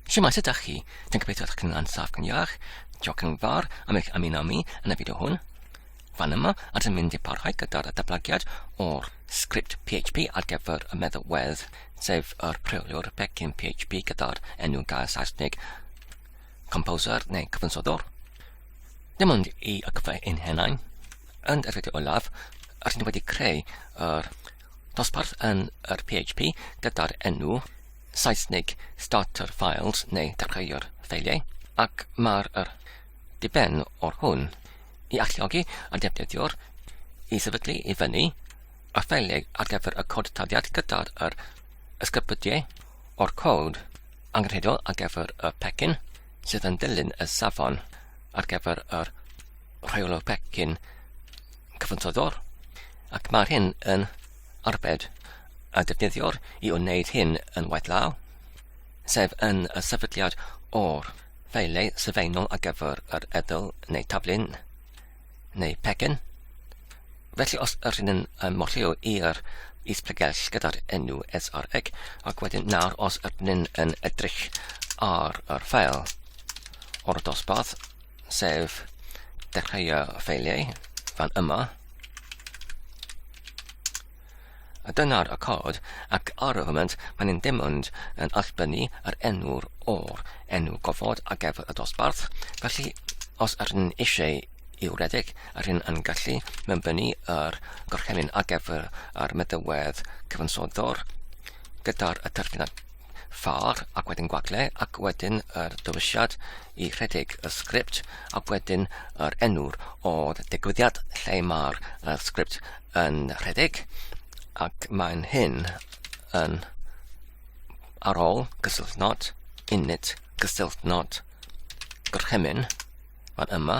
Siamai, sut ydych chi? Dwi'n gobeithio ydych chi'n ansaf yn iach. Diolch yn fawr am eich ymuno mi yn y fideo hwn. Fan yma, a dyn mynd i parhau gyda'r datblygiad o'r sgript PHP ar gyfer y meddalwedd, sef yr preoliwr pecyn PHP gyda'r enw gair Saesneg composer neu cyfansoddwr. Dim ond i y cyfle ein henain, yn yr fideo olaf, a dyn wedi creu yr dosbarth yn yr PHP gyda'r enw Saesneg Starter Files neu Dechreuwr Ffeiliau ac mae'r yr diben o'r hwn i alluogi y defnyddiwr i sefydlu i fyny y ffeiliau ar gyfer y cod taliad gyda'r yr ysgrybydiau o'r cod angenrheidiol ar gyfer y pecyn sydd yn dilyn y safon ar gyfer yr rheolwr pecyn cyfansoddwr ac mae'r hyn yn arbed a defnyddiwr i wneud hyn yn waith law, sef yn y sefydliad o'r ffeilau sylfaenol ar gyfer yr edl neu tablyn neu pecyn. Felly os yr hyn yn ymwllio i'r is pregell gyda'r enw sreg ac wedyn nawr os yr hyn yn edrych ar yr ffael o'r dosbarth sef dechreuo ffeiliau fan yma. A dyna'r y cod, ac ar y foment mae'n yn dim ond yn allbynnu ar enw'r o'r enw gofod ar gefod y dosbarth, felly os yr yn eisiau i'w redeg, yr hyn yn gallu mynbynnu yr gorchymyn ar gefod ar meddywedd cyfansoddwr gyda'r y terfynau far ac wedyn gwagle ac wedyn yr dywisiad i rhedeg y sgript ac wedyn yr enw'r o'r digwyddiad lle mae'r uh, sgript yn rhedeg ac mae'n hyn yn ar ôl gysylltnod, init, gysylltnod, gorchymyn, fan yma,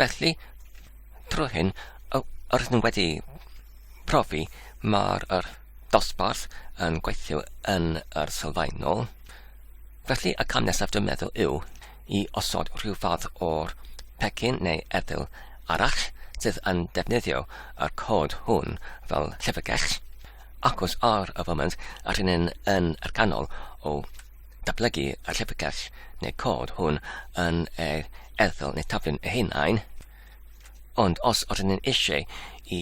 Felly, trwy hyn, yr ydym wedi profi mae'r yr dosbarth yn gweithio yn yr sylfaenol. Felly, y cam nesaf dwi'n meddwl yw i osod rhyw fath o'r pecyn neu efyl arall sydd yn defnyddio y cod hwn fel llyfrgell, ac os ar y foment a rhywun yn yr ganol o datblygu y llyfrgell neu cod hwn yn yr erthygl neu taflen ei hunain, ond os ydyn ni'n eisiau i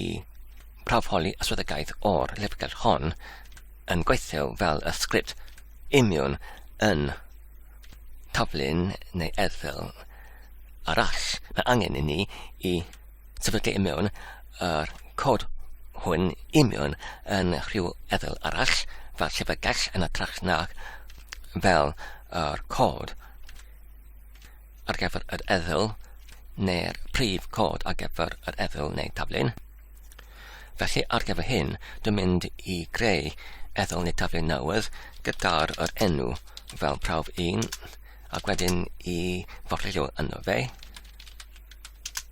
prawfholi ystradegau o'r llyfrgell hon yn gweithio fel y sgript imiwn yn taflen neu erthygl arall, mae angen i ni i sefydlu i mewn yr cod hwn i mewn yn rhyw efel arall, fel llyfrgell yn atrach nag fel yr cod ar gyfer yr efel neu'r prif cod ar gyfer yr efel neu taflun. Felly ar gyfer hyn, dwi'n mynd i greu efel neu taflun newydd gyda'r yr enw fel prawf 1 ac wedyn i forlilio yno fe.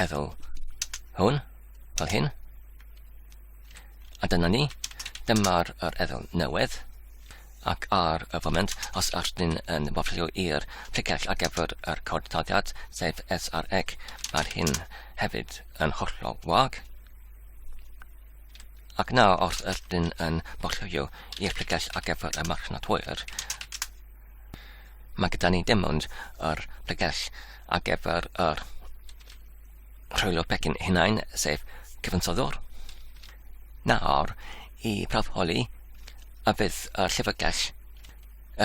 efo hwn, fel hyn. A dyna ni, dyma'r yr efel newydd. Ac ar y foment, os ydych chi'n yn wafio i'r picell ar gyfer yr cod taliad, sef SREC, mae'r hyn hefyd yn hollol wag. Ac nawr, os ydych chi'n yn wafio i'r picell ar gyfer y marchnad hwyr, Mae gyda ni dim ond yr pregell ar gyfer yr rhwylo pecyn hunain, sef cyfansoddwr. Nawr, i prawf holi, a fydd y llyfrgell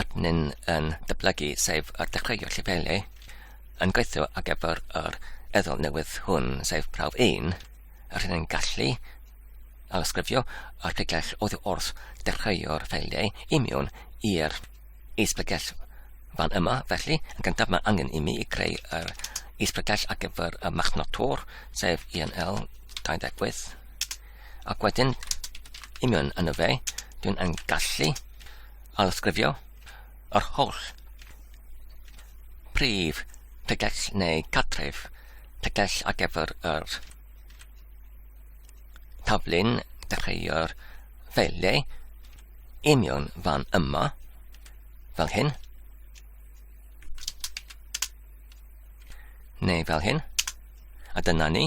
ydyn yn dyblygu, sef yr dechreuio llefelau, yn gweithio ar gyfer yr eddol newydd hwn, sef prawf 1, yr hyn yn gallu a ysgrifio erthyglau oddi wrth dechreu'r ffeiliau i mewn i'r isbregell fan yma. Felly, yn gyntaf mae angen i mi i creu yr isbregell ar gyfer y machnod tor, sef ENL 28. Ac wedyn, i mewn yn y fe, dwi'n yn gallu alysgrifio yr holl prif tegell neu catref tegell ar gyfer yr Taflu'n dechreuo'r ffeiliau i mewn fan yma, fel hyn. Neu fel hyn. A dyna ni.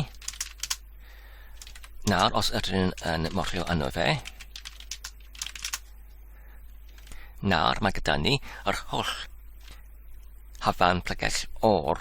Nawr, os ydyn yn morfio yno fe, nawr mae gyda ni yr holl hafan plyges o'r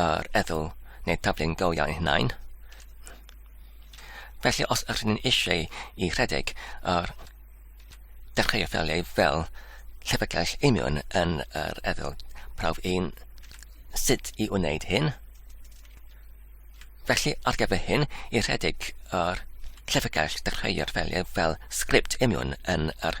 yr ethol neu taflu'n go iawn ei hunain. Felly os ydych chi'n eisiau i rhedeg yr dechreuodd ffeiliau fel llyfrgell imiwn yn yr ethol prawf un sut i wneud hyn. Felly ar gyfer hyn i rhedeg yr llyfrgell dechreuodd ffeiliau fel sgript imiwn yn yr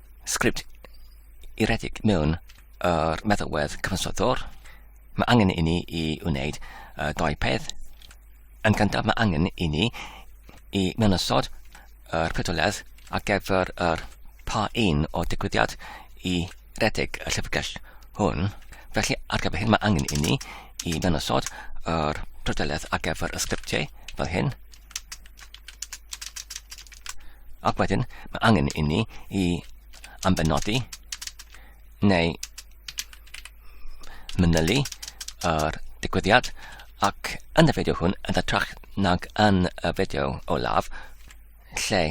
sgript i redeg mewn yr meddalwedd cyfansoddwr, mae angen i ni i wneud uh, dau peth. Yn gyntaf, mae angen i ni i mewnysod yr pedoledd ar gyfer yr pa un o digwyddiad i redeg y llyfrgell hwn. Felly, ar gyfer hyn, mae angen i ni i mewnysod yr pedoledd ar gyfer y sgriptiau fel hyn. Ac wedyn, mae angen inni i ambenodi neu manylu yr digwyddiad ac yn y fideo hwn yn hytrach nag yn y fideo olaf lle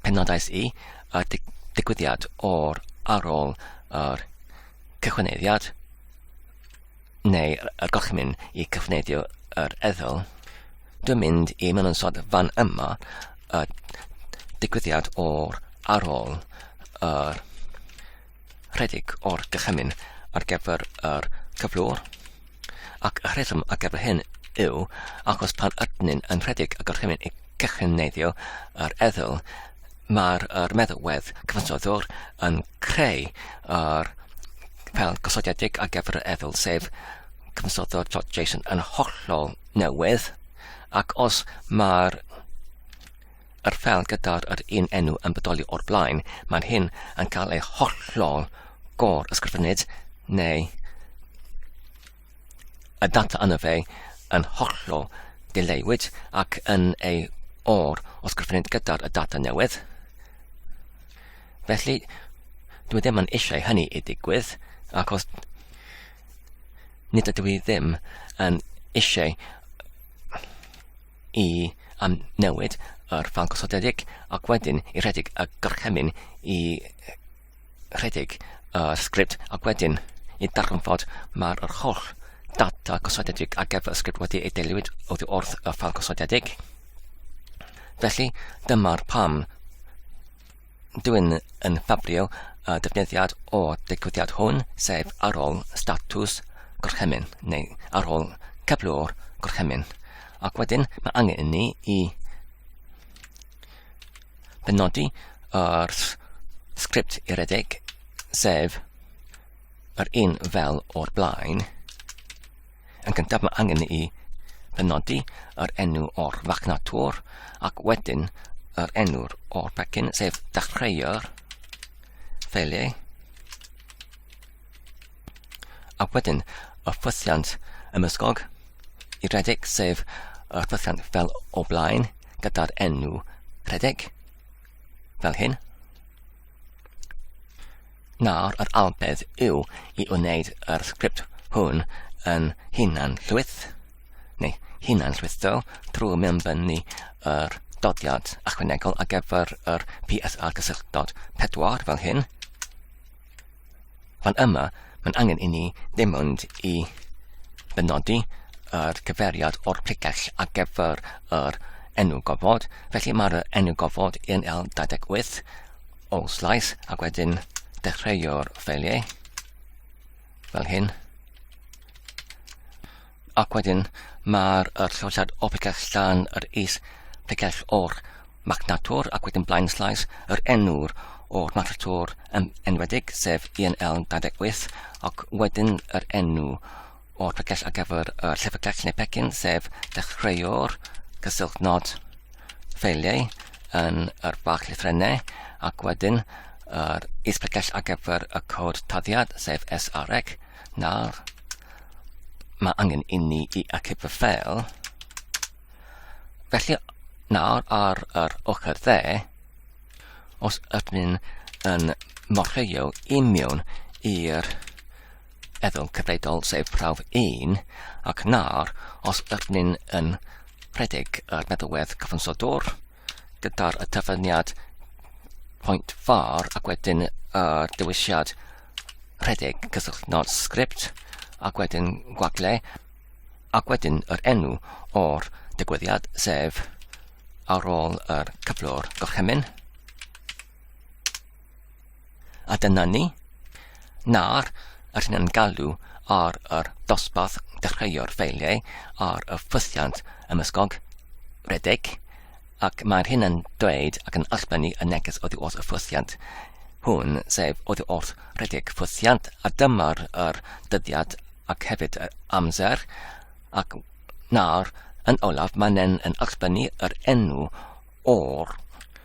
penodais i y dig digwyddiad o'r ar ôl yr cychwyneddiad neu y gorchymyn i cyfnedio yr ethol. Dwi'n mynd i mewn yn sod fan yma y digwyddiad o'r ar ôl yr rhedeg o'r gychymyn ar gyfer yr cyflwr. Ac y rheswm ar gyfer hyn yw achos pan ydyn yn rhedeg y gorchymyn i cychwyn neiddio yr eddl, Mae'r er meddalwedd cyfansoddwr yn creu yr fel gosodiedig ar gyfer yr efel, sef cyfansoddwr.json yn hollol newydd, ac os mae'r yr fel gyda'r yr un enw yn bodoli o'r blaen, mae'r hyn yn cael ei hollol gor ysgrifennydd neu y data yna fe yn hollol dileuwyd ac yn ei or os gyffriniad gyda'r y data newydd. Felly, dwi ddim yn eisiau hynny i digwydd, ac os nid ydw i ddim yn eisiau i am newid yr ffan gosodedig ac wedyn i rhedeg y gorchymyn i rhedeg y sgript ac wedyn i ddarganfod mae'r yr holl data gosodedig ar gyfer y sgript wedi ei deilwyd oddi wrth y ffal gosodedig. Felly, dyma'r pam dwi'n yn ffabrio y defnyddiad o digwyddiad hwn, sef ar ôl statws gorchymyn, neu ar ôl cyflwr gorchymyn. Ac wedyn, mae angen i ni i penodi yr sgript uredig, sef yr un fel o'r blaen. Yn gyntaf mae angen i penodi yr enw o'r fachnatwr ac wedyn yr enw o'r pecyn, sef dechreuwr ffeiliau. Ac wedyn, y ffwythiant ymysgog i redeg, sef y ffwythiant fel o blaen gyda'r enw redeg, fel hyn. Nawr, yr albedd yw i wneud yr sgript hwn yn hunan llwyth, neu hunan llwytho, drwy mewnbynnu yr dodiad ychwanegol ar gyfer yr PSR gysylltod pedwar fel hyn. Ond yma, mae'n angen i ni ddim ond i benodi yr cyfeiriad o'r pregell ar gyfer yr enw gofod. Felly mae'r enw gofod yn L28 o slais ac wedyn dechreuo'r ffeiliau fel hyn. Ac wedyn mae'r er llosad o picell llan yr is picell o'r magnator ac wedyn blaen slais yr enwr o'r magnator yn enwedig sef ENL 28 ac wedyn yr enw o'r picell ar gyfer y llyfrgell neu pecyn sef dechreuwr gysylltu nod ffeiliau yn yr bach lythrennau ac wedyn yr is picell ar gyfer y cod taddiad sef SREC Nawr, mae angen inni i acip y ffeil. Felly, nawr ar yr ochr dde, os ydyn yn morfeio i mewn i'r eddol cyfredol sef prawf 1, ac nawr, os ydyn yn rhedeg yr meddalwedd cyfansodwr, gyda'r y tyfyniad pwynt far ac wedyn y uh, dewisiad rhedeg cysylltu nod sgript ac wedyn gwagle ac wedyn yr enw o'r digwyddiad sef ar ôl yr cyflwr gorchymyn. A dyna ni. Nawr, rydyn yn galw ar yr dosbarth dechreuo'r ffeiliau ar y ffwythiant ymysgog, redeg, ac mae'r hyn yn dweud ac yn ysblennu y neges oddi wrth y ffwythiant hwn, sef oddi wrth redeg ffwythiant, a dyma'r yr dyddiad ac hefyd yr amser, ac nawr, yn olaf, mae'n yn ysblennu yr enw o'r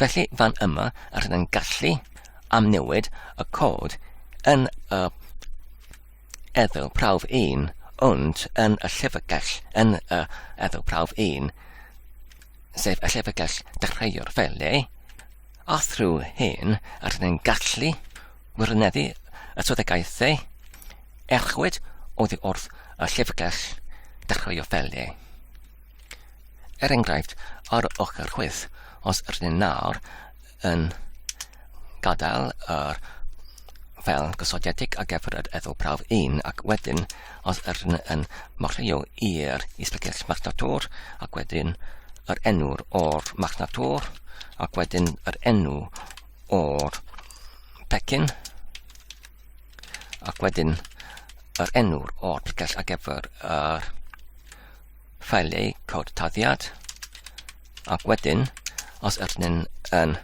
Felly fan yma rydyn ni'n gallu amnewid y cod yn y efo prawf 1 ond yn y llyfrgell yn y efo prawf 1 sef y llyfrgell dechreuwr felly a thrwy hyn rydyn ni'n gallu wirioneddu y swyddogaethau erchwyd oddi wrth y llyfrgell dechreuwr felly. Er enghraifft, ar ochr chwith, os rydyn nawr yn gadael yr fel gosodiedig a gefr yr efo prawf 1 ac wedyn os rydyn yn marchio i'r isbegell marchnatwr ac wedyn yr enw'r o'r marchnatwr ac wedyn yr enw o'r pecyn ac wedyn yr enw'r o'r precell a gefr yr ffeiliau cod taddiad, ac wedyn, os ydyn nhw'n yn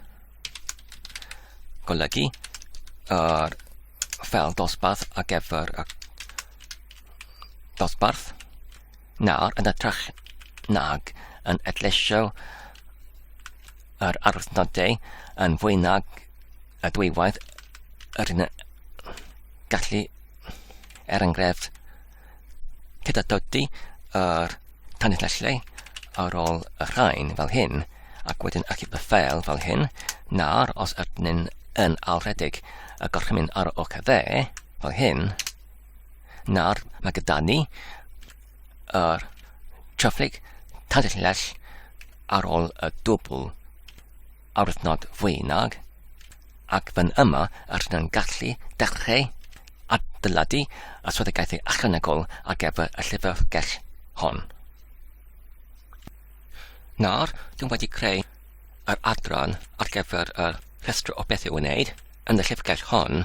golygu yr ffel dosbarth ar gyfer y dosbarth, nawr yn ytrach nag yn edlesio yr arwydnodau yn fwy nag y dwywaith yr yn gallu, er enghraifft, Gyda dodi yr tanlinellau ar ôl y rhain fel hyn, ac wedyn achub y ffeil fel hyn, nawr os ydyn yn alwredig y gorchymyn ar y oca dde, fel hyn, nawr mae gyda ni yr traflig tanlinell ar ôl y dwbl awdurdod fwy nag, ac fan yma y rydyn yn gallu dechreu adeiladu y swyddogaethau ychwanegol ar gyfer y llyfrgell hon. Nawr, dwi'n wedi creu yr adran ar gyfer y rhestr o beth i'w wneud yn y llyfrgell hon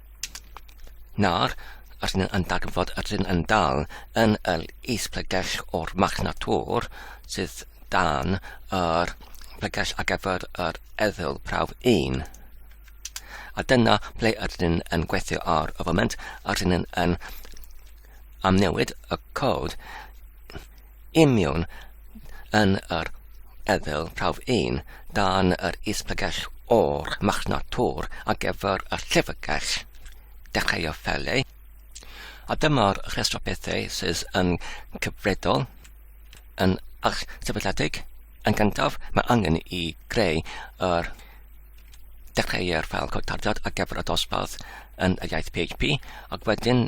Nawr, os ni yn darganfod yr hyn yn dal yn yr is-pregell o'r marchnad tŵr sydd dan yr pregell ar gyfer yr eddyl prawf 1. A dyna ble yr hyn yn gweithio ar y foment, yr hyn yn amnewid y cod Union yn yr Ethel prawf un dan yr Is-Llyfrgell o'r Machnad Tor ar gyfer y Llyfrgell Dechreuodd Felly, a dyma'r rhestr o bethau sydd yn cyfredol yn eich sefydliedig. Yn gyntaf, mae angen i greu yr dechreu'r ffel cod tarddiad ar gyfer y dosbarth yn y iaith PHP ac wedyn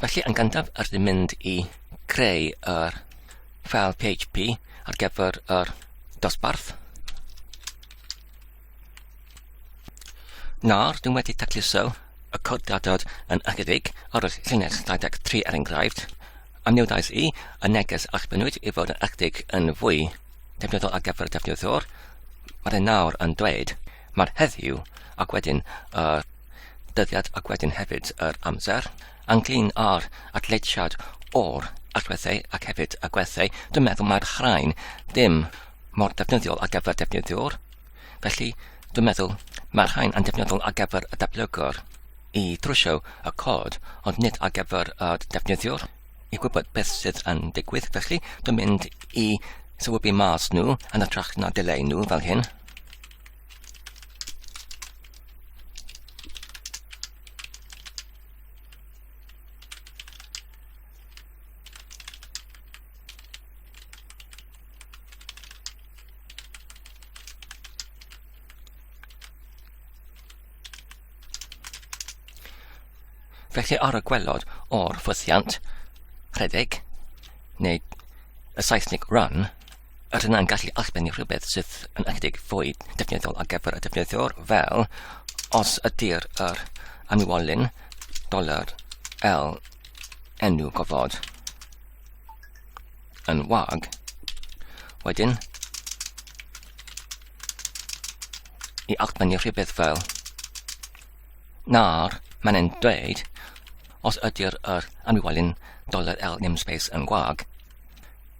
Felly yn gyntaf yr ni'n mynd i creu yr ffeil PHP ar gyfer yr dosbarth. Nawr, dwi'n wedi tacluso y cod gadod yn ychydig ar y llinell 23 er enghraifft, a mi wnaeth i y neges a'ch benwyd i fod yn ychydig yn fwy defnyddiol ar gyfer y defnyddwr. Mae'r nawr yn dweud Mae'r heddiw ac wedyn yr dyddiad ac wedyn hefyd yr amser ynglyn â'r atletiad o'r allweddau ac hefyd y gwerthau. Dwi'n meddwl mae'r chraen ddim mor defnyddiol ar gyfer defnyddiwr. Felly, dwi'n meddwl mae'r rhain yn defnyddiol ar gyfer y datblygwr i drwsio y cod, ond nid ar gyfer y defnyddiwr i gwybod beth sydd yn digwydd. Felly, dwi'n mynd i sylwybu mas nhw yn y trach na dileu nhw fel hyn. Felly ar y gwelod o'r ffwythiant, rhedeg, neu y Saesneg run, Yr hynna'n gallu allbynnu rhywbeth sydd yn ychydig fwy defnyddiol ar gyfer y defnyddiwr fel os ydy'r yr anwolyn dolar L enw gofod yn wag. Wedyn, i allbynnu rhywbeth fel na'r mae'n e'n dweud os ydy'r yr anwolyn dolar L namespace yn gwag.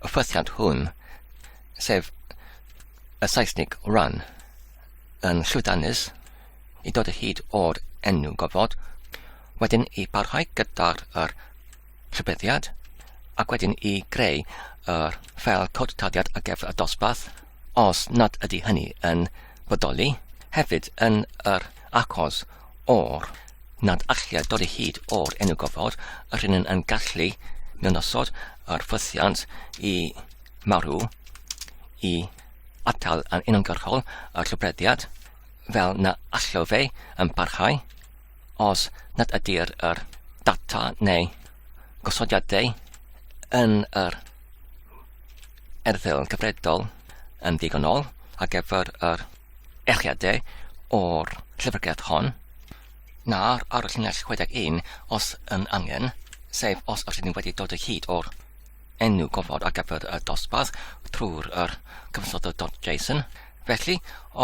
y ffythiant hwn, sef y Saesnig run, yn llwyddiannus i dod o hyd o'r enw gofod, wedyn i barhau gyda'r er rhybuddiad, ac wedyn i greu yr ffel cod taliad ar gyfer y dosbarth, os nad ydy hynny yn bodoli, hefyd yn yr achos o'r nad allai dod o hyd o'r enw gofod, yr hyn yn gallu mewnasod yr ffwythiant i marw i atal yn uniongyrchol y llobrediad fel na allai fe yn parhau os nad ydy'r er data neu gosodiadau yn yr erthygl yn gyfredol yn ddigonol ar gyfer yr echiadau o'r llyfrgell hon, na'r ar y llinell 61 os yn angen, sef os ydych chi'n wedi dod o hyd o'r enw gofod ar gyfer y dosbarth trwy'r yr cyfansoddodd.json. Felly,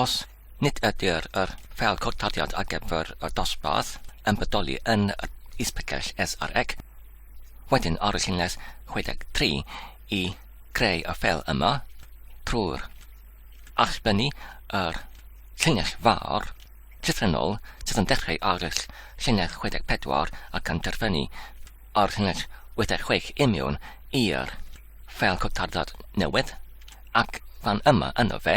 os Nid ydyr yr fel cwrtariad ar gyfer y dosbarth yn bodoli yn yr Is-picell SREC. Wedyn ar y llinell 63 i greu y fel yma, trwy'r allbynnu yr llinell fawr llythrennol sydd yn dechreu ar y llinell 64 ac yn terfynu ar llinell 86 i miwn i'r fel cwrtariad newydd ac fan yma yno fe.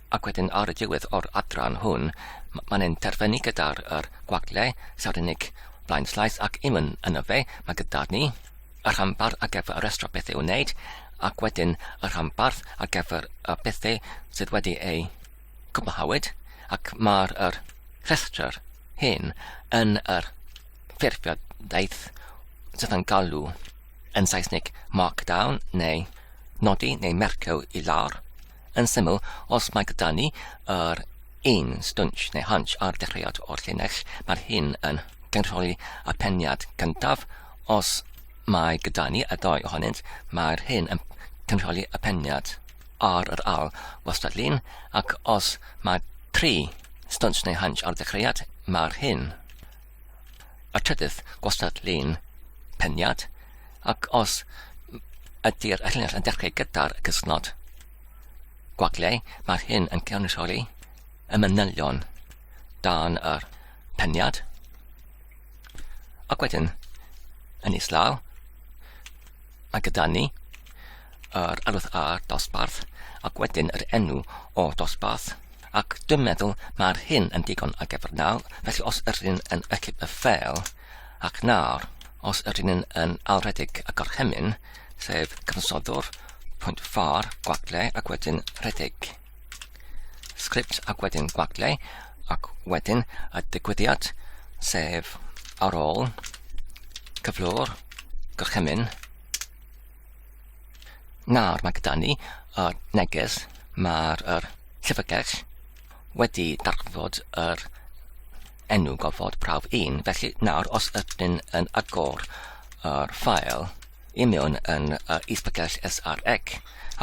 Ac wedyn ar y diwedd o'r adran hwn, mae'n ein terfynu gyda'r er gwagle, saw'r unig blaen llais ac imwn yn y fe, mae gyda ni y rhanbarth ar gyfer y restro bethau i'w wneud, ac wedyn y rhanbarth ar gyfer y bethau sydd wedi eu cwblhawyd, ac mae'r er rhestr hyn yn yr ffurfiadaeth sydd yn galw yn Saesneg markdown neu nodi neu mercio i lawr, Yn syml, os mae gyda ni yr un stwnsh neu hunch ar dechreuad o'r llinell, mae'r hyn yn cynrychioli y peniad gyntaf, os mae gyda ni y ddau ohonynt, mae'r hyn yn cynrychioli y peniad ar yr al wastadlun, ac os mae tri stwnsh neu hunch ar dechreuad, mae'r hyn y trydydd gwastad-lun peniad, ac os ydy'r llinell yn dechrau gyda'r cysnod gwagliau, mae'r hyn yn cynrychioli y manylion dan yr peniad. Ac wedyn, yn islaw, Mae gyda ni yr arwydd A dosbarth ac wedyn yr enw o dosbarth ac dwi'n meddwl mae'r hyn yn digon ar gyfer nawr felly os yr un yn ychydig y ffeil ac nawr os yr un yn alredig y gorchymyn sef cyfansoddwr pwynt far gwagle ac wedyn rhedeg. sgript ac wedyn gwaglau ac wedyn y digwyddiad sef ar ôl cyflwr gorchymyn nawr mae gyda ni y neges mae'r er llyfrgell wedi darfod yr enw gofod prawf 1 felly nawr os ydyn yn agor yr ffael i mewn yn yr isbgell SREC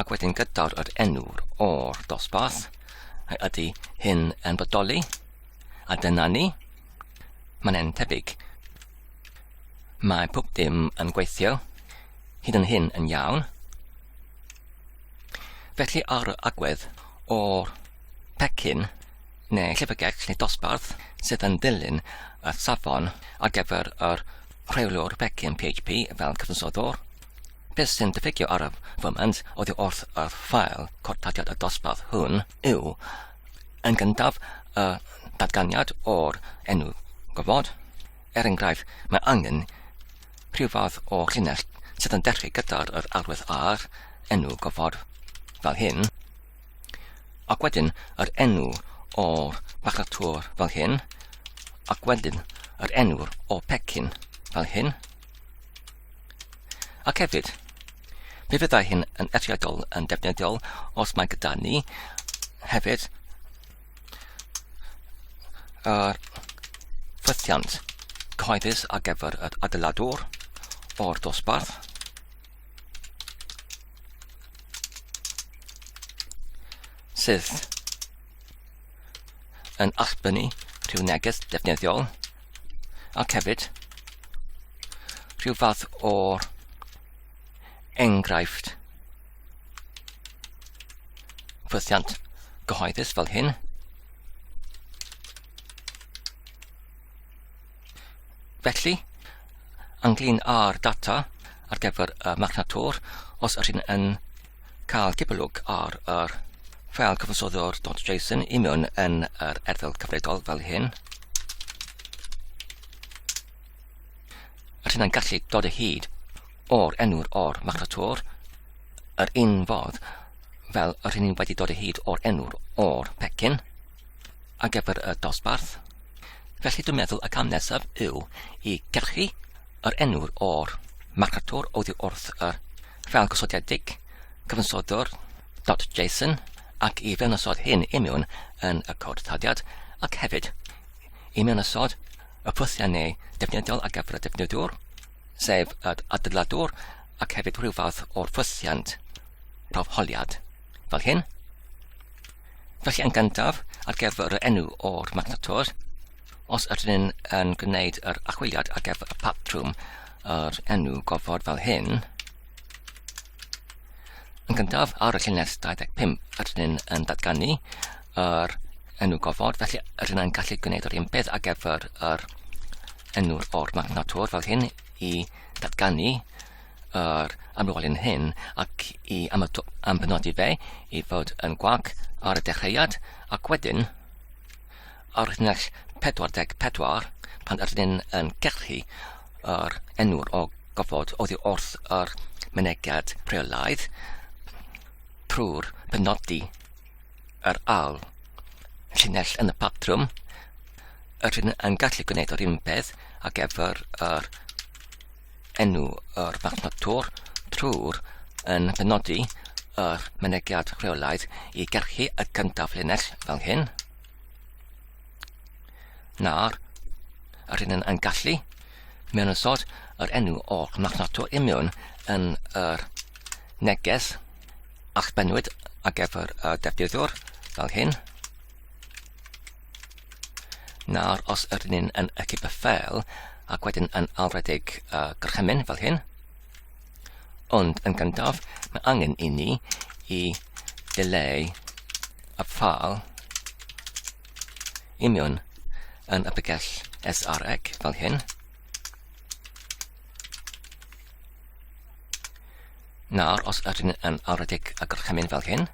ac wedyn gydawd yr enw o'r dosbarth. Ydy hyn yn bodoli? A dyna ni. Mae'n e'n tebyg. Mae pob dim yn gweithio, hyd yn hyn yn iawn. Felly ar y agwedd o'r pecyn, neu llyfrgell neu dosbarth sydd yn dilyn y safon ar gyfer yr rheoliwr pecyn PHP fel cyfansoddwr. Beth sy'n diffygio ar y foment oddi wrth y ffael cortadiad y dosbarth hwn yw yn gyntaf y datganiad o'r enw gofod. Er enghraifft, mae angen rhyw fath o llinell sydd yn dechrau gyda'r yr arwydd ar enw gofod fel hyn. Ac wedyn yr enw o'r bacatwr fel hyn, ac wedyn yr enw o pecyn fel hyn. Ac hefyd, mi fyddai hyn yn eithriadol yn defnyddiol os mae gyda ni hefyd yr ffythiant cyhoeddus ar gyfer yr adeiladwr o'r dosbarth sydd yn allbynnu rhyw neges defnyddiol ac hefyd rhyw fath o enghraifft ffythiant gyhoeddus fel hyn. Felly, ynglyn â'r data ar gyfer y magnator, os ydych chi'n yn cael cipolwg ar yr ffeil cyfansoddwr.json i mewn yn yr erthygl cyfredol fel hyn, rydyn yn gallu dod o hyd o'r enw'r o'r magnator yr un fodd fel yr hyn ni'n wedi dod o hyd o'r enw'r o'r pecyn. ar gyfer y dosbarth. Felly dwi'n meddwl y cam nesaf yw i gyrchu yr enw'r o'r marchatwr oddi wrth y fel gosodedig cyfansoddwr.json ac i fewnosod hyn i mewn yn y cod taliad ac hefyd i mewnosod y ffwythiau neu defnyddiol ar gyfer y defnyddiwr, sef y adeiladwr ac hefyd rhyw fath o'r ffwythiant rhofholiad. Fel hyn. Felly yn gyntaf, ar gyfer y enw o'r magnator, os ydyn ni'n yn gwneud yr achwiliad ar gyfer y patrwm yr enw gofod fel hyn, yn gyntaf ar y llinell 25 ydyn ni'n yn datganu yr enw gofod, felly ydyn ni'n gallu gwneud yr un peth ar gyfer yr enw'r o'r magnator fel hyn i datganu yr amlwalyn hyn ac i ampenodi fe i fod yn gwag ar y dechreuad ac wedyn ar wythnos 44 pan ydyn ni'n yn gellu yr enwr o gofod oddi wrth yr mynegiad rheolaidd trwy'r penodi yr al llinell yn y patrwm yr hyn yn gallu gwneud yr un peth ac efo'r yr enw yr farchnad Tor trwy'r yn penodi yr mynegiad rheolaidd i gyrchu y gyntaf linell fel hyn, na'r yr hyn yn gallu mewn ysod yr enw o'r marchnad Tor imiwn yn yr neges a'ch benwyd ar gyfer y defnyddwr fel hyn. Nawr, os ydyn ni'n yn ychyb y ffel, ac wedyn yn alwredig uh, gorchymyn fel hyn, ond yn gyntaf, mae angen i ni i dileu y ffal i mewn yn y bygell SREC fel hyn. Nawr, os ydyn yn alwredig y gorchymyn fel hyn,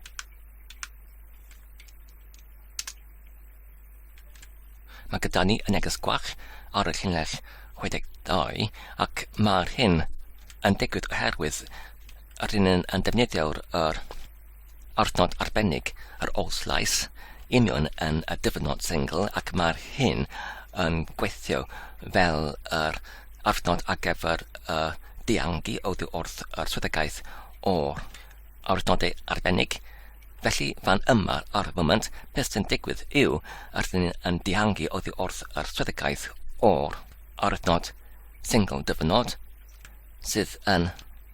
Mae gyda ni y neges gwach ar y llinell 62 ac mae'r hyn yn digwydd oherwydd yr un yn defnyddio'r er, arnod arbennig yr oll lais union yn y dyfynod sengl ac mae'r hyn yn gweithio fel yr arnod ar gyfer y diangi oddi wrth yr swyddogaeth o'r ar wythnodau arbennig. Felly, fan yma, ar y foment, beth sy'n digwydd yw, rydyn ni'n yn dihangu oddi wrth yr swyddogaeth o'r arwythnod single dyfynod sydd yn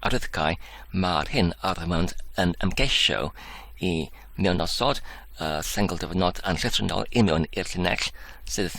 arwyddocau mae'r hyn ar y foment yn ymgeisio i mewn osod y single dyfynod yn llythrennol i mewn i'r llinell sydd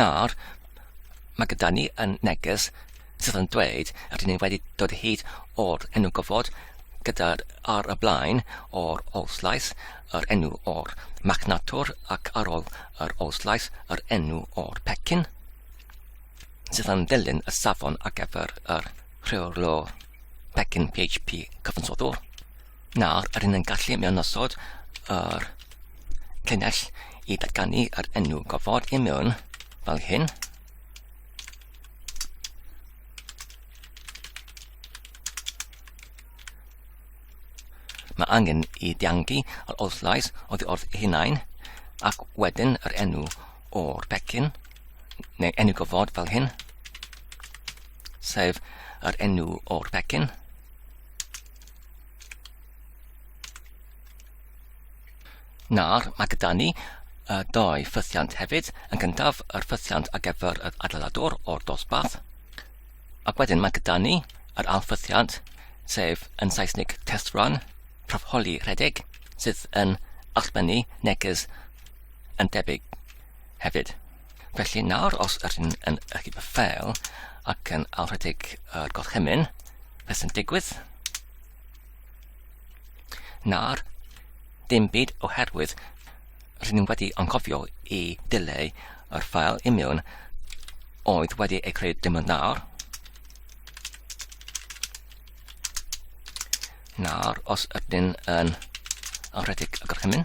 Nawr, mae gyda ni yn neges sydd yn dweud a dyn ni wedi dod hyd o'r enw gofod gyda ar y blaen o'r olslais yr enw o'r machnatwr ac ar ôl yr olslais yr enw o'r pecyn sydd yn dilyn y safon ar gyfer yr rheolwr pecyn PHP cyfansoddwr. Nawr, rydyn ni'n gallu mewnnosod yr llinell i datganu yr enw gofod i mewn fel hyn. Mae angen i diangu yr ollais oddi wrth ei hunain ac wedyn yr enw o'r pecyn neu enw gofod fel hyn sef yr enw o'r pecyn Nawr, mae gyda ni y doi ffythiant hefyd. Yn gyntaf, yr ffythiant ar gyfer yr adeiladwr o'r dosbarth. Ac wedyn mae gyda ni yr alffythiant, sef yn Saesneg test run, profholi rhedeg, sydd yn allbynnu neges yn debyg hefyd. Felly nawr, os ydyn ni yn y gyda ffeil ac yn awredig y gorchymyn, beth sy'n digwydd? Nawr, dim byd oherwydd rydyn ni wedi anghofio i dileu yr ffael i mewn oedd wedi ei creu dim ond nawr. Nawr, os ydyn yn awredig y gorchymyn,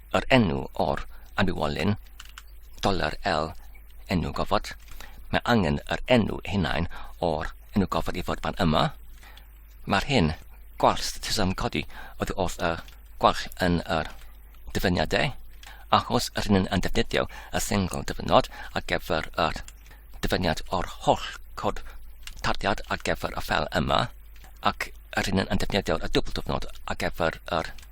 yr enw o'r anwywolyn, dollar L enw gofod. Mae angen yr enw hunain o'r enw gofod i fod fan yma. Mae'r hyn gwall statusam codi oedd wrth y gwall yn yr dyfyniadau, achos yr hyn yn defnyddio y sengl dyfynod ar gyfer yr dyfyniad o'r holl cod tarddiad ar gyfer y fel yma, ac yr hyn yn defnyddio y dwbl dyfynod ar gyfer yr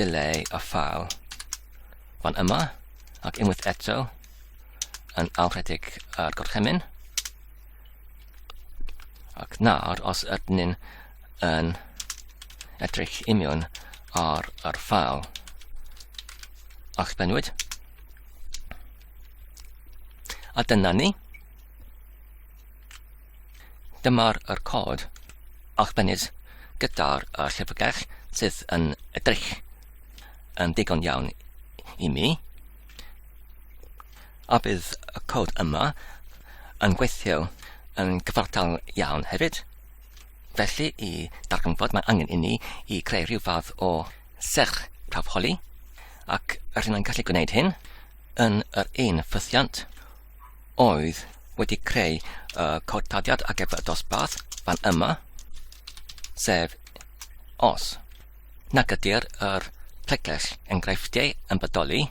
delay a file fan yma ac unwaith eto yn awredig ar gorchymyn ac nawr os ydyn ni'n yn edrych imiwn ar yr ffael allbennwyd a dyna ni Dyma'r yr cod arbennig gyda'r y llyfrgell sydd yn edrych yn ddigon iawn i mi. A bydd y cod yma yn gweithio yn gyfartal iawn hefyd. Felly i darganfod mae angen inni i creu rhyw fath o serch prawfholi ac rydyn yn gallu gwneud hyn yn yr un ffythiant oedd wedi creu y codtadiad ar gyfer y dosbarth fan yma, sef os nag ydy'r yr pregell enghreifftiau yn bodoli,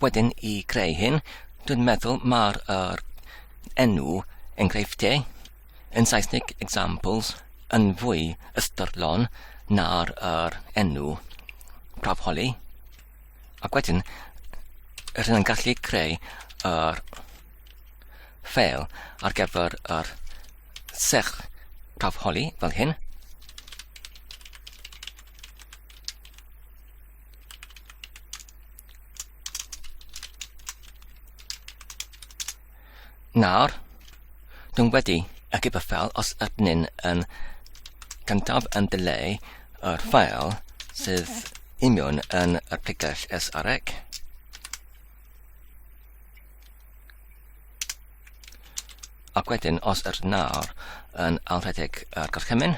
wedyn i greu hyn, dwi'n meddwl mae'r er, enw enghreifftiau yn Saesneg examples yn fwy ystyrlon na'r er, enw profholi. Ac wedyn, rydyn yn gallu creu yr ffeil ar gyfer yr sech caf holi fel hyn. Nawr, dwi'n wedi y giper ffeil os ydyn yn gyntaf yn dileu yr ffeil sydd imiwn yn y pregell SREC. Ac wedyn, os ydyn nawr yn alrhedeg yr gorchymyn,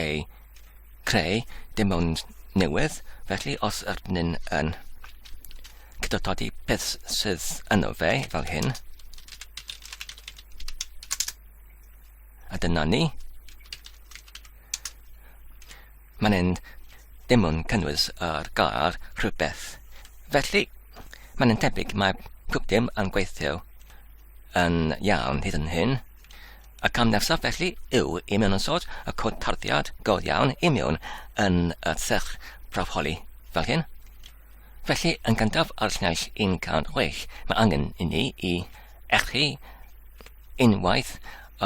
eu creu dim ond newydd, felly os ydyn ni'n yn cydytodi beth sydd yno fe fel hyn, a dyna ni, mae'n hyn dim ond cynnwys ar gair rhywbeth. Felly, mae'n tebyg mae pob dim yn gweithio yn iawn hyd yn hyn. Y cam nesaf felly yw i mewn ysod y cod tarddiad go iawn i mewn yn y sych brafholi fel hyn. Felly, yn gyntaf ar llais 106, mae angen i ni i echu unwaith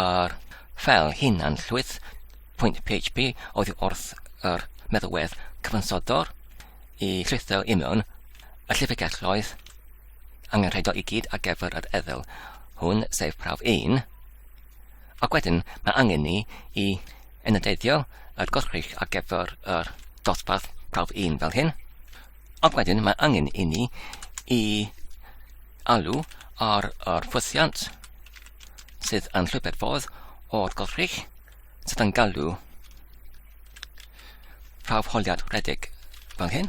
yr ffel hunan llwyth pwynt PHP oddi wrth yr meddwedd cyfansodwr i llwytho i mewn y llifigelloedd angenrheidiol i gyd ar gyfer yr ethol hwn, sef prawf 1. Ac wedyn mae angen ni i enyddeiddio yr gorchrych ar gyfer yr dosbarth prawf 1 fel hyn. Ac wedyn mae angen i ni i alw ar yr ffwythiant sydd yn llwybr ffordd o'r gorchrych sydd yn galw prawf holiad rhedeg fel hyn.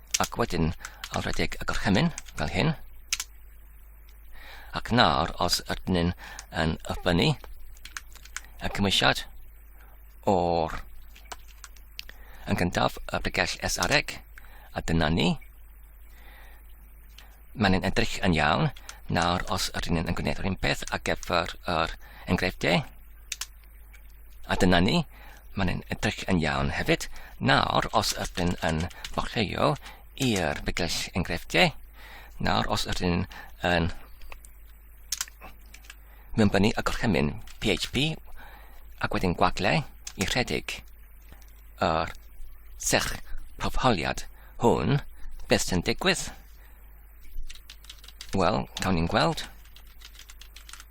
Ac wedyn ail redeg y gorchymyn, fel hyn. Ac nawr, os ydyn ni'n yn yfynnu y cymwysiad o'r yn gyntaf y bregell esareg, a dyna ni. Mae'n yn edrych yn iawn. Nawr, os ydyn ni'n yn gwneud yr un peth ar gyfer yr enghreifftiau, A dyna ni, mae'n yn edrych yn iawn hefyd. Nawr, os ydyn yn bollheio i'r bygell enghreifftiau, nawr os ydyn yn mewnbynnu y gorchymyn PHP ac wedyn gwaglau i rhedeg yr serch profholiad hwn, beth sy'n digwydd? Wel, cawn ni'n gweld.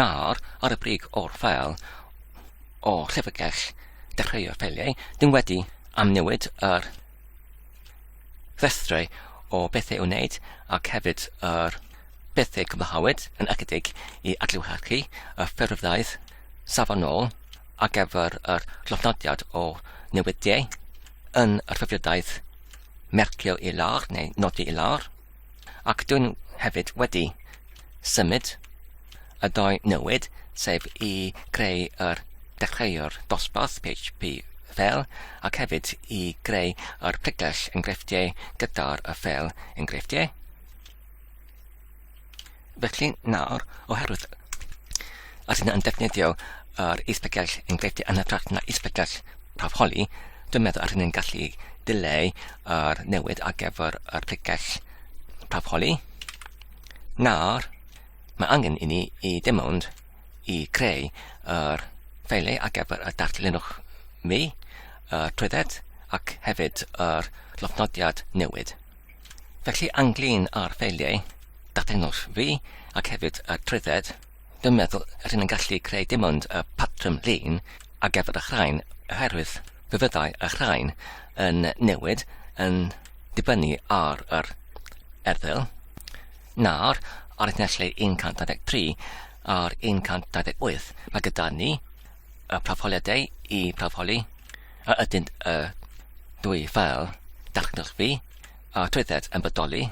Nawr, ar y brig o'r ffeil, o Llyfrgell Dechreuo'r Ffeiliau, dyn wedi amnewid yr rhestrau o bethau i'w wneud ac hefyd yr bethau cwblhawyd yn ychydig i adlewyrchu y ffurfddaeth safonol ar gyfer yr llofnodiad o newidiau yn y rhyfedddaeth mercio i lawr neu nodi i lawr. Ac dw i'n hefyd wedi symud y dou newid, sef i greu yr dechreuwr dosbarth PHP ffeil ac hefyd i greu yr pregles enghreifftiau gyda'r y ffeil enghreifftiau. Felly nawr, oherwydd yr hyn yn defnyddio yr isbegell yn gweithio yn hytrach na isbegell prawf holi, dwi'n meddwl yr hyn yn gallu dileu yr newid ar gyfer yr pregell prawf holi. Nawr, mae angen i ni i dim ond i creu yr ffeilau ar gyfer y darllenwch mi, y trwydded ac hefyd yr llofnodiad newid. Felly ynglyn â'r ffeiliau datganol fi ac hefyd y trwydded, dwi'n meddwl yr hyn yn gallu creu dim ond y patrwm llun ar gyfer y chraen oherwydd fe fyddai y chraen yn newid yn dibynnu ar yr erthygl. Nawr, ar y nesle 123 a'r 128 mae gyda ni y prawfoliadau i prawfoli a ydynt y dwy ffeil datgylchu a trwydded yn bodoli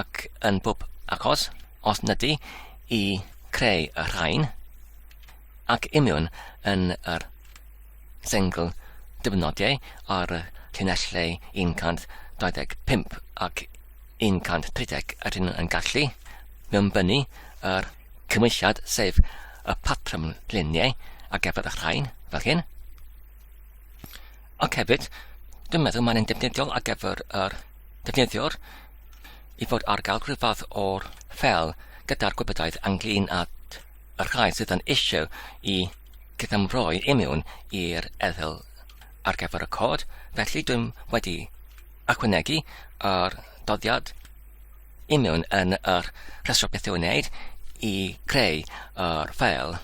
ac yn bob achos, os nid i creu y rhain, ac imiwn yn yr sengl dibynodiau ar y llinellau 125 ac 130 rydyn yn gallu mewnbynnu yr cymwysiad sef y patrwm luniau ar gyfer y rhain, fel hyn. Ac hefyd, dwi'n meddwl mae'n defnyddiol ar gyfer yr defnyddiwr i fod ar gael rhywbeth o'r fel gyda'r gwybodaeth ynglyn â y rhai sydd yn eisiau i gyfamroi i mewn i'r ethel ar gyfer y cod, felly dwi'n wedi ychwanegu yr doddiad i mewn yn yr rhestr beth i'w wneud i creu yr ffeil.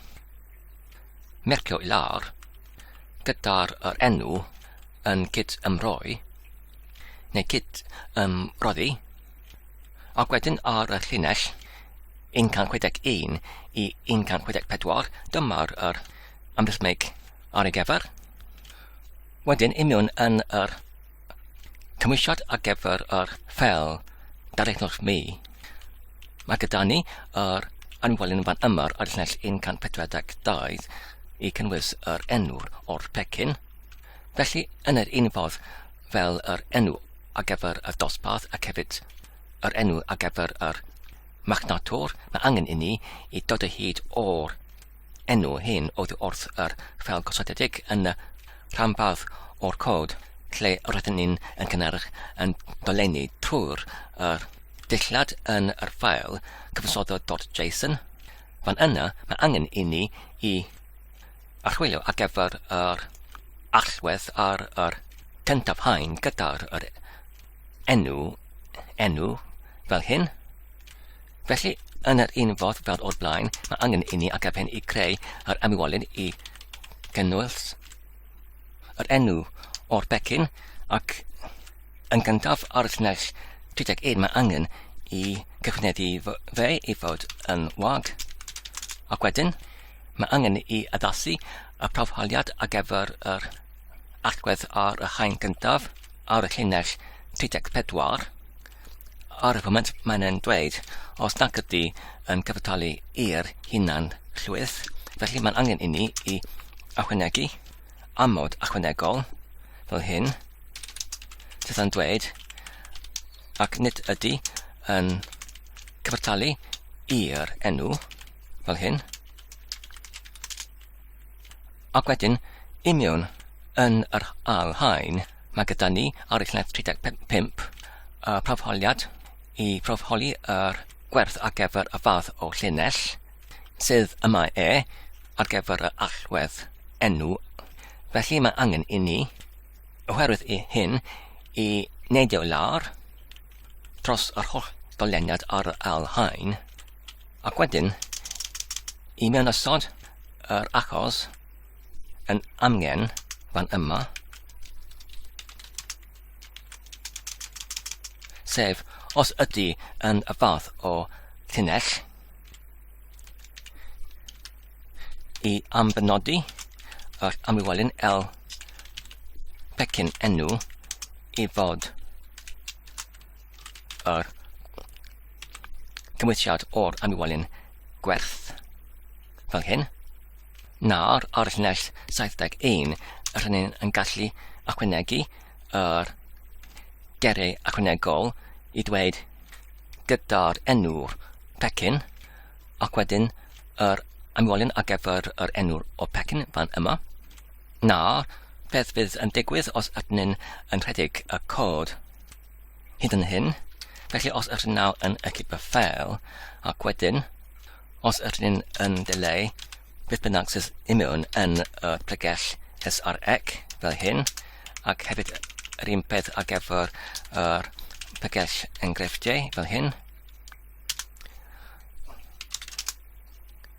Mercio i lawr, gyda'r yr enw yn cyd-ymroi, neu cyd-ymroddi, ac wedyn ar y llinell 161 i 164, dyma'r yr amrhythmig ar ei gyfer. Wedyn, imiwn yn yr cymwysiad ar gyfer yr fel darllenwch mi. Mae gyda ni yr anwelyn fan yma ar llinell 142 i cynnwys yr enw o'r pecyn. Felly, yn yr un fodd fel yr enw ar gyfer y dosbarth ac hefyd yr enw ar gyfer yr marchnator, mae angen i ni i dod o hyd o'r enw hyn oddi wrth yr ffeil gosodedig yn y rhanbarth o'r cod lle roedden ni'n yn cynnyrch yn dolenni trwy'r yr dillad yn yr ffael cyfansoddodd.json. Fan yna, mae angen i ni i archwilio ar gyfer yr allwedd ar yr cyntaf hain gyda'r yr enw, enw fel hyn. Felly, yn yr un fodd fel o'r blaen, mae angen i ni agapen i greu yr ymwolyn i gynnwys yr enw o'r becyn ac yn gyntaf ar y llinell 31 mae angen i gyfneddu fe i fod yn wag ac wedyn mae angen i addasu y prawfhaliad ar gyfer yr allgwedd ar y haen gyntaf ar y llinell 34 Ar y foment mae'n e'n dweud, os nac ydy yn cyfartalu i'r hunan llwyth, felly mae'n angen inni i achwynegu amod achwynegol fel hyn, sydd yn dweud ac nid ydy yn cyfartalu i'r enw fel hyn, Ac wedyn, i mewn yn yr ail haen, mae gyda ni arilledd 35 y profholiad i profholi yr gwerth ar gyfer y fath o llinell, sydd yma e ar gyfer y allwedd enw. Felly mae angen i ni Oherwydd i hyn i neidio lawr dros yr holl goleniad ar yr ail haen, ac wedyn i mewn ysod yr achos yn amgen fan yma, sef os ydy yn y fath o llinell, i ambenodi yr amlwelyn L pecyn enw i fod yr cymwysiad o'r amlwelyn gwerth fel hyn. Nawr, ar y llinell 71, yr hynny yn gallu ychwanegu yr gerau ychwanegol i dweud gyda'r enw'r pecyn Ac wedyn yr amwelion ar gyfer yr enw o pecyn fan yma. Nawr, beth fydd yn digwydd os ydyn ni'n yn rhedeg y cod hyd yn hyn? Felly os ydyn nawr yn ecip y ffeil, ac wedyn, os ydyn ni'n yn delay beth bynnag sydd imiwn yn y pregell SREC fel hyn, ac hefyd yr un peth ar gyfer yr pregell enghreifftiau fel hyn,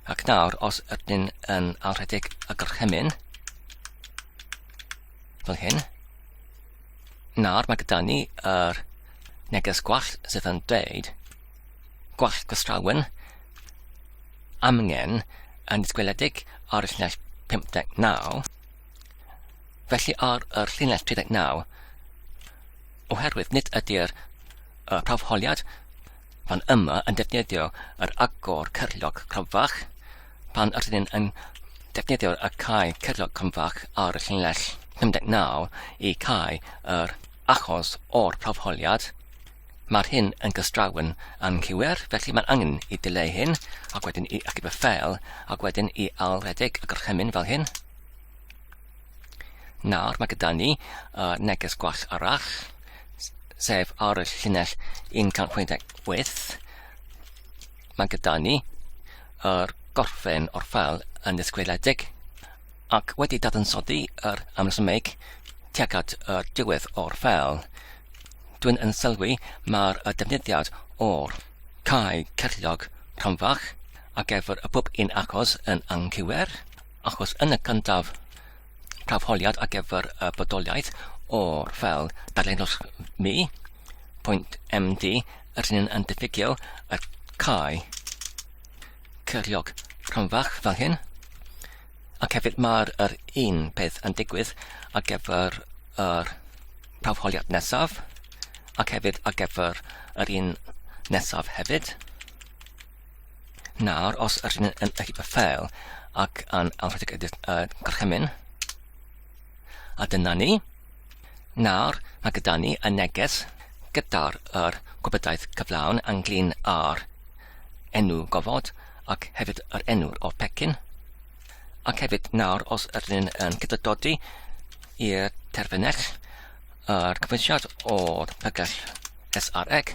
Ac nawr, os ydyn ni'n yn alrhedeg y gorchymyn, fel hyn, nawr mae gyda ni yr neges gwall sydd yn dweud gwall gwastrawen amgen yn ysgweledig ar y llinell 59, felly ar yr llinell 39, oherwydd nid ydy'r prawfholiad fan yma yn defnyddio yr agor cyrliog cronfach pan rydyn ni yn defnyddio y cae cyrliog cronfach ar y llinell 59 i cau yr achos o'r prawfholiad. Mae'r hyn yn gystrawn anghywir, felly mae'n angen i dileu hyn, ac wedyn i achub y ffeil, ac wedyn i ail redeg y gorchymyn fel hyn. Nawr mae gyda ni uh, neges gwell arall, sef ar y llinell 168. Mae gyda ni yr gorffen o'r ffel yn ddisgwyliedig ac wedi dadansoddi yr amlysymeg tuag at y diwedd o'r ffel. Dwi'n yn sylwi mae'r defnyddiad o'r cae cerllog rhanfach ac efo'r y pwp yn achos yn anghywir Achos yn y cyntaf, praf holiad ar gyfer y bodoliaeth o'r fel darllenwch mi, pwynt MD, yr hyn yn diffygio y cae cyriog rhanfach fel hyn, ac hefyd mae'r yr un peth yn digwydd ar gyfer yr praf holiad nesaf, ac hefyd ar gyfer yr un nesaf hefyd. Nawr, os ydyn ni'n yn eich ffeil ac yn awredig edrych uh, gorchymyn, a dyna ni. Nawr, mae gyda ni y neges gyda'r yr gwybodaeth cyflawn ynglyn â'r enw gofod ac hefyd yr enw o'r pecyn. Ac hefyd nawr, os ydyn yn cydododi i'r terfynell yr cyfwysiad o'r pygell SREG,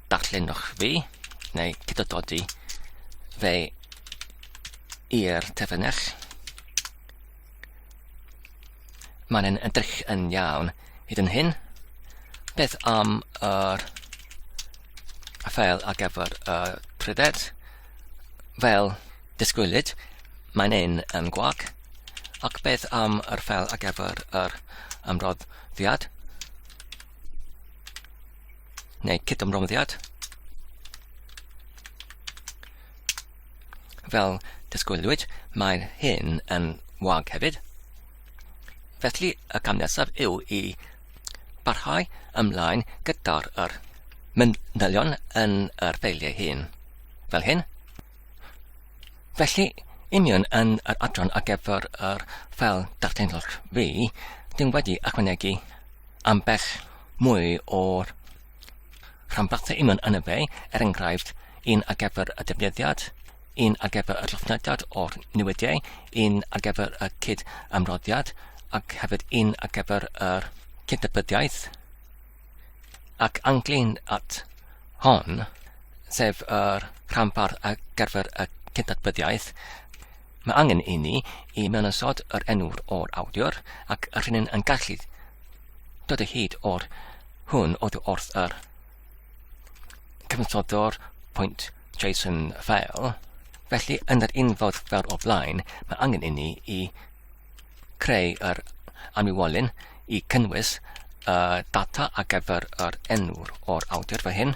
darllenwch fi, neu cydododi fe i'r terfynell. Mae'n yn edrych yn iawn hyd yn hyn. Beth am yr y ffeil ar gyfer y trydedd? Fel disgwylid, mae'n un yn gwag. Ac beth am yr ffeil ar gyfer yr ymroddiad? neu cydymroddiad, fel disgwylwyd, mae hyn yn wag hefyd. Felly y cam nesaf yw i barhau ymlaen gyda'r yr manylion yn yr ffeiliau hyn, fel hyn. Felly, union yn yr adran ar gyfer yr ffel darllenwch fi, dim wedi ychwanegu ambell mwy o'r rhanbarthau union yn y be, er enghraifft, un ar gyfer y defnyddiad, un ar gyfer y llofnodiad o'r newidiau, un ar gyfer y cyd amroddiad, ac hefyd un ar gyfer yr cydnabyddiaeth, ac anglyn at hon, sef yr rhanbarth ar gyfer y cydnabyddiaeth, Mae angen i ni i mewn ysod yr enw o'r awdur ac yr hynny'n yn gallu dod o hyd o'r hwn oedd wrth yr cyfnoddo'r pwynt JSON file. Felly, yn yr un fod fel o blaen, mae angen i ni i creu yr anwywolyn i cynnwys y data ar gyfer yr enw'r o'r awdur fel hyn.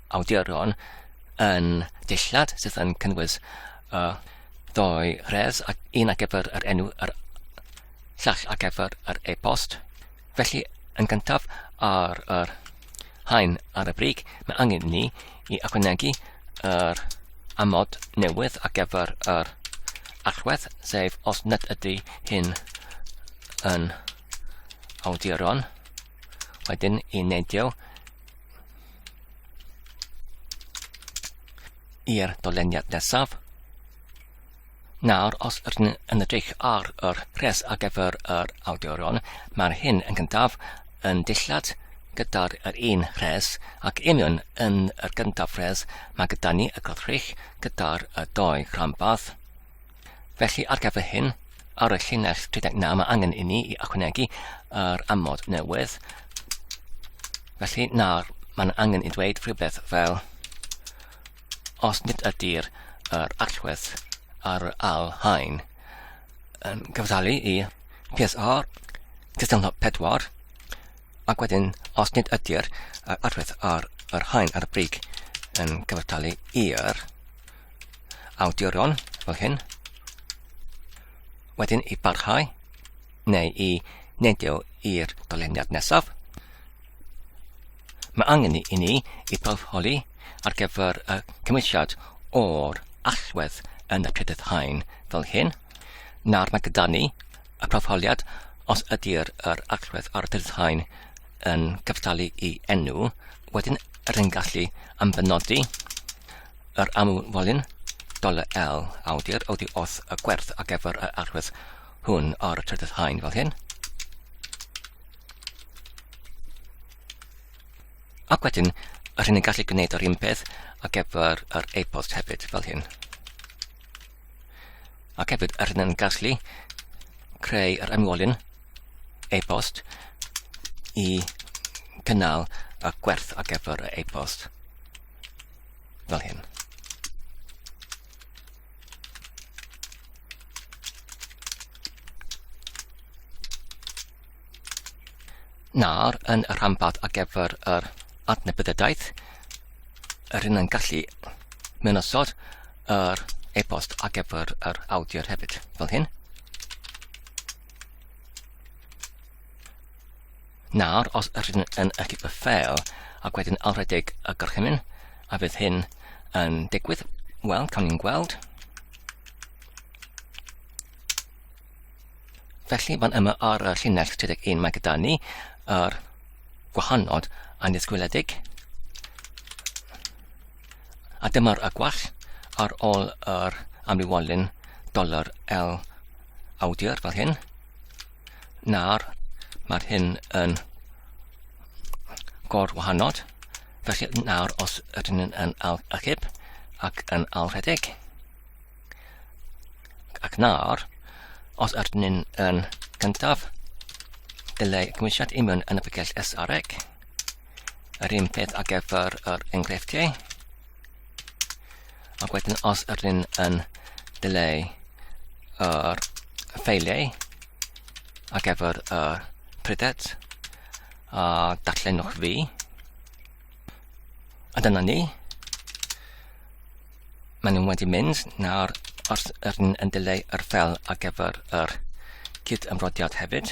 awduron yn dillad sydd yn cynnwys uh, doi res ac un ar gyfer yr enw yr llall ar gyfer yr e-bost. Felly, yn gyntaf ar yr hain ar y brig, mae angen ni i ychwanegu yr amod newydd ar gyfer yr allwedd, sef os nad ydy hyn yn awduron. Wedyn i neidio i'r doleniad nesaf. Nawr, os ydyn yn edrych ar yr pres ar gyfer yr awdurion, mae'r hyn yn gyntaf yn dillad gyda'r yr un rhes ac union yn yr gyntaf rhes mae gyda ni y gwrthrych gyda'r y doi rhanbarth. Felly, ar gyfer hyn, ar y llinell 39 mae angen i ni i ychwanegu yr amod newydd. Felly, nawr mae'n angen i ddweud rhywbeth fel os nid ydy'r er allwedd ar yr al hain yn gyfdalu i PSR cystadleuaeth 4 ac wedyn os nid ydy'r er allwedd ar yr hain ar y brig yn cyfartalu i'r awduron fel hyn, wedyn i barhau neu i neidio i'r doleniad nesaf. Mae angen i ni i barholi ar gyfer y cymwysiad o'r allwedd yn y trydydd hain fel hyn. Nawr mae gyda ni y profoliad os ydy'r yr allwedd ar y trydydd hain yn cyftalu i enw, wedyn rydyn gallu ymbenodi Yr amwylyn, dollar L, awdur, awdi oth y gwerth a gefr y arwydd hwn ar y trydydd haen fel hyn. Ac wedyn, yr hyn yn gallu gwneud yr un peth a gefr yr e-bost hefyd fel hyn. Ac hefyd, yr hyn yn gallu creu yr ymwolyn e-bost i gynnal y gwerth ar gyfer y e-bost. Fel hyn. Nawr, yn y rhanbarth ar gyfer yr adnabyddiadaeth, yr hyn yn gallu mynosod yr e-bost ar gyfer yr awdur hefyd, fel hyn. Nawr, os ydych chi'n yn eich ffeil ac wedyn alredeg y gorchymyn, a fydd hyn yn digwydd, wel, cawn ni'n gweld. Felly, fan yma ar y llinell 31 mae gyda ni yr gwahanod annisgwyledig. A dyma'r y gwall ar ôl yr amlywolyn dolar L awdur fel hyn. Nawr, mae'r hyn yn gor wahanod. Felly nawr, os ydyn ni'n yn al achub ac yn al rhedeg, ac nawr, os ydyn ni'n yn gyntaf, dylai cymwysiad i mewn yn y picell SREC. Yr un peth ar gyfer yr enghreifftiau. Ac wedyn os ydyn yn dileu yr ffeiliau ac efo'r uh, prydet a uh, darllenwch fi. A dyna ni. Maen nhw'n wedi mynd nawr os ydyn yn dileu yr ffel ar gyfer yr cyd ymrodiad hefyd.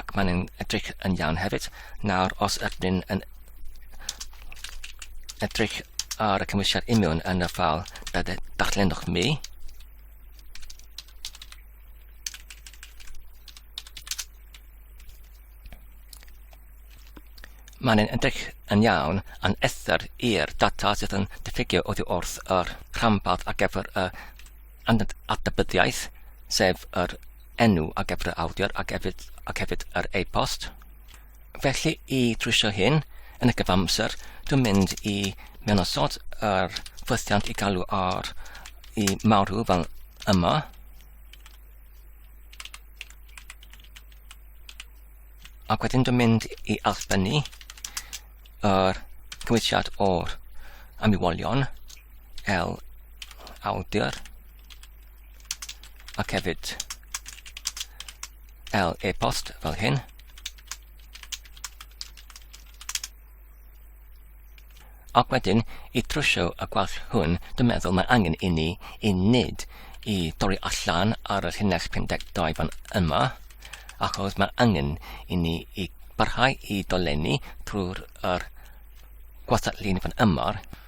ac mae'n nhw'n edrych yn iawn hefyd. Nawr, os ydyn ni'n yn edrych ar y cymwysiad imiwn yn y ffal darllenwch mi, mae'n yn edrych yn iawn yn ethr i'r data sydd yn diffygio oddi wrth yr rhanbarth ar gyfer y adnabyddiaeth, sef yr enw a gyfrau awdur ac hefyd, ac hefyd yr e-post. Felly i drwysio hyn yn y gyfamser, dwi'n mynd i mewn osod yr ffwythiant i galw ar i marw fel yma. Ac wedyn dwi'n mynd i allbynnu yr cymwysiad o'r ymwolion L awdur ac hefyd L e-bost fel hyn. Ac wedyn, i trwsio y gwall hwn, dwi'n meddwl mae angen i ni i nid i dorri allan ar y llinell 52 fan yma, achos mae angen i ni i barhau i dolenni trwy'r er gwastatlun fan yma,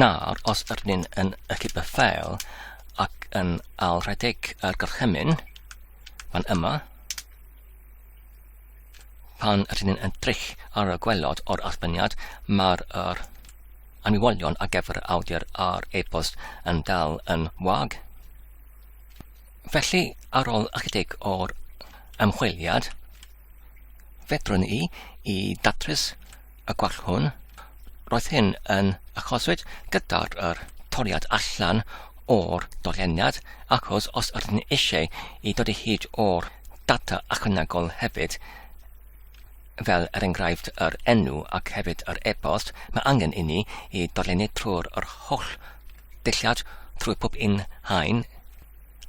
Nawr, os ydyn ni'n yn ychydig y ffeil ac yn ail rhedeg yr gorchymyn fan yma, pan ydyn ni'n edrych ar y gwelod o'r archbeniad, mae'r er anwybolion ar gyfer y awdur a'r e-bost yn dal yn wag. Felly, ar ôl ychydig o'r ymchwiliad, fedrwn i i datrys y gwall hwn, roedd hyn yn achoswyd gyda'r er, toriad allan o'r dolyniad, achos os ydyn ni eisiau i dod i hyd o'r data ychwanegol hefyd, fel er enghraifft yr enw ac hefyd yr e-bost, mae angen i ni i dolennu trwy'r yr holl dulliad trwy pob un hain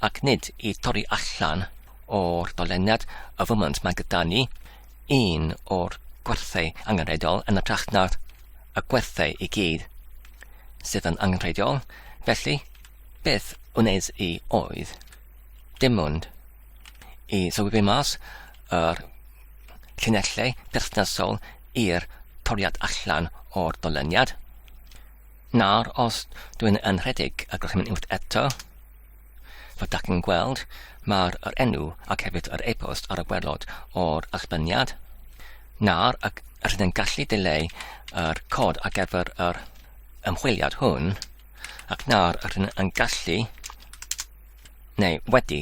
ac nid i dorri allan o'r doleniad y foment mae gyda ni, un o'r gwerthau angenrheidiol yn ytrach na'r y gwerthau i gyd sydd yn angenrheidiol, felly beth wnes i oedd dim ond i sylwi mas yr llinellau perthnasol i'r toriad allan o'r doleniad. Nawr, os dw i'n yn rhedeg y gorchymyn unwaith eto, fel dach chi'n gweld, mae'r yr enw ac hefyd yr e-bost ar y gwerlod o'r allbyniad. Nawr, ac rydyn gallu dileu yr cod ar gyfer yr ymchwiliad hwn, ac nawr rydyn yn gallu, neu wedi,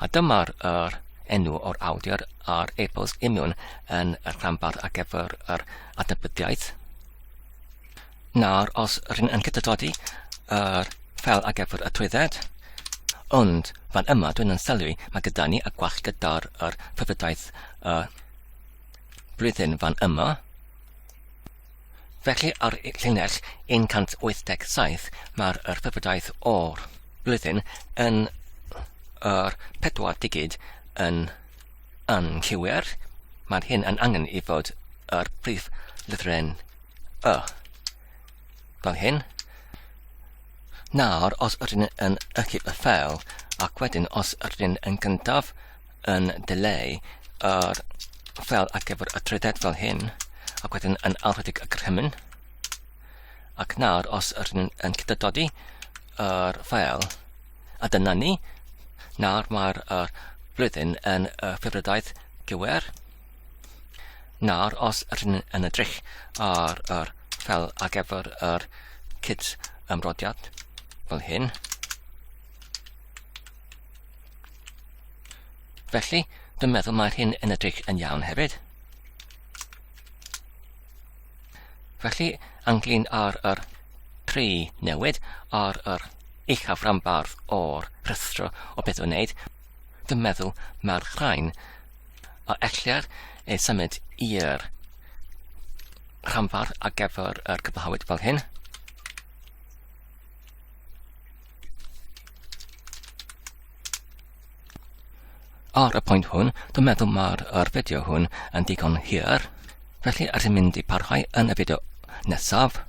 A dyma'r yr enw o'r awdur a'r epos imiwn yn y rhanbarth ar gyfer yr adnabydiaeth. Nawr, os rydyn yn cytadodi yr fel ar gyfer y trwydded, ond fan yma dwi'n yn sylwi mae gyda ni y gwall gyda'r yr ffyfydaeth y blwyddyn fan yma. Felly ar llinell 187 mae'r yr wybodaeth o'r blwyddyn yn yr pedwar digid yn anghywir. Mae'r hyn yn angen i fod yr prif lythren y. Fel hyn. Nawr, os ydyn yn ychydig y ffel, ac wedyn os ydyn yn gyntaf, yn dileu yr fel ar gyfer y trydedd fel hyn, ac wedyn yn alwedig y grymyn. Ac nawr, os ydyn yn cydydodi yr fel, a dyna ni, nawr mae'r er blwyddyn yn y ffefrydaeth gywer. Nawr, os ydyn yn edrych ar yr fel ar gyfer yr cyd ymrodiad fel hyn, Felly, dwi'n meddwl mae'r hyn yn edrych yn iawn hefyd. Felly, anglyn ar yr tri newid ar yr uchaf rambardd o'r rhestro o beth o'n wneud, dwi'n meddwl mae'r rhain a ellir ei symud i'r rhamfardd ar gyfer yr cyflawyd fel hyn. Ar y pwynt hwn, dwi'n meddwl mae'r er fideo hwn yn digon hir, felly ar i'n mynd i parhau yn y fideo nesaf.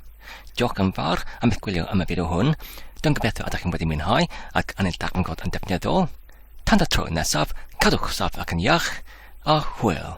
Diolch yn fawr am eich gwylio am y fideo hwn. Dwi'n gobeithio ydych chi'n wedi mwynhau ac yn eich darganfod yn defnyddiol. Tan y tro nesaf, cadwch saff ac yn iach, a hwyl!